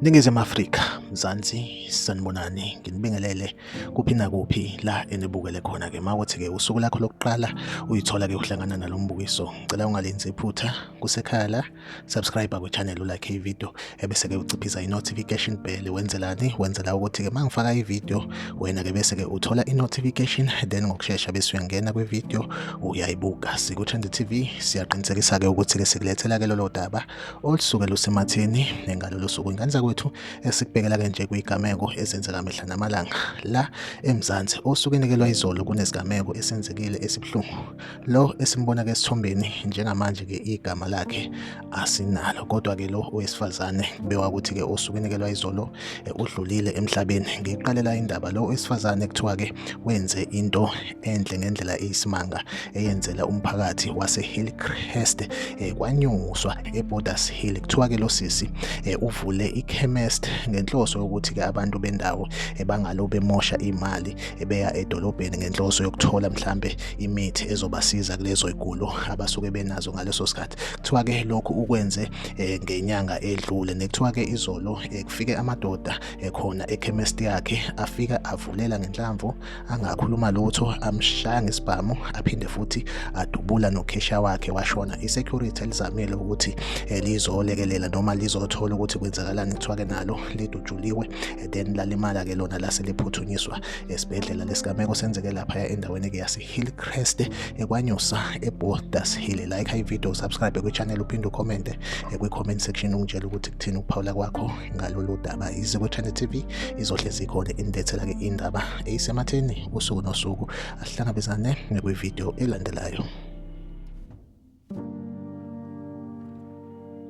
Ningizimu Afrika, Mzansi, sanibonani, nginibingelele kuphi nakuphi la enibukele khona ke mawuthi ke usuku lakho lokuqala uyithola ke uhlangana nalombukiso. Ngicela ungalenzi iphutha kusekhaya la. subscribe kwichannel ulike ivideo ebese-ke uciphisa i-notification bell wenzelani wenzela ukuthi-ke uma ngifaka ivideo wena-ke bese-ke uthola i-notification then ngokushesha bese uyangena kwivideo uyayibuka siku-trend tv siyaqinisekisa-ke ukuthi-ke sikulethela-ke lolo daba olusuke lusematheni ngalolo suku ingane zakwethu esikubhekela-ke nje kuyigameko ezenzeka mihla namalanga la emzansi osuke inikelwa izolo kunezigameko esenzekile esibuhlungu Lo esimbona ke esithombeni njengamanje ke igama lakhe asinalo kodwa ke lo owesifazane bewa ukuthi ke osukenekelwa izolo eh, udlulile emhlabeni ngiqalela indaba lo owesifazane kuthiwa ke wenze into enhle ngendlela eyisimanga eyenzela umphakathi wase Hillcrest eh, kwanyuswa eBorders Hill kuthiwa ke lo sisi eh, uvule ichemist ngenhloso yokuthi ke abantu bendawo bangalo bemosha imali beya edolobheni ngenhloso yokuthola mhlambe imithi ezobasiza kulezo igulo abasuke benazo ngaleso sikhathi kuthiwa ke lokhu ukwenze eh, ngenyanga edlule nekuthiwa ke izolo eh, kufike amadoda ekhona eh, ekhemesti yakhe afika avulela ngenhlamvu angakhuluma lutho amshaya ngesibhamu aphinde futhi adubula nokhesha wakhe washona isecurity elizamile ukuthi lizolekelela noma lizothola ukuthi kwenzakalani kuthiwa ke nalo lidutshuliwe then lalimala ke lona lase liphuthunyiswa esibhedlela lesigameko senzeke laphaya endaweni eke yasehillcrest ekwanyusa eborders hill like high video subscribe kwichannel uphinde ucommente kwi-comment section ungitshela ukuthi kuthini ukuphawula kwakho ngalolu daba iziko channel tv izohlezi ikhona inibethela-ke indaba eyisematheni usuku nosuku asihlangabezane nekwividiyo elandelayo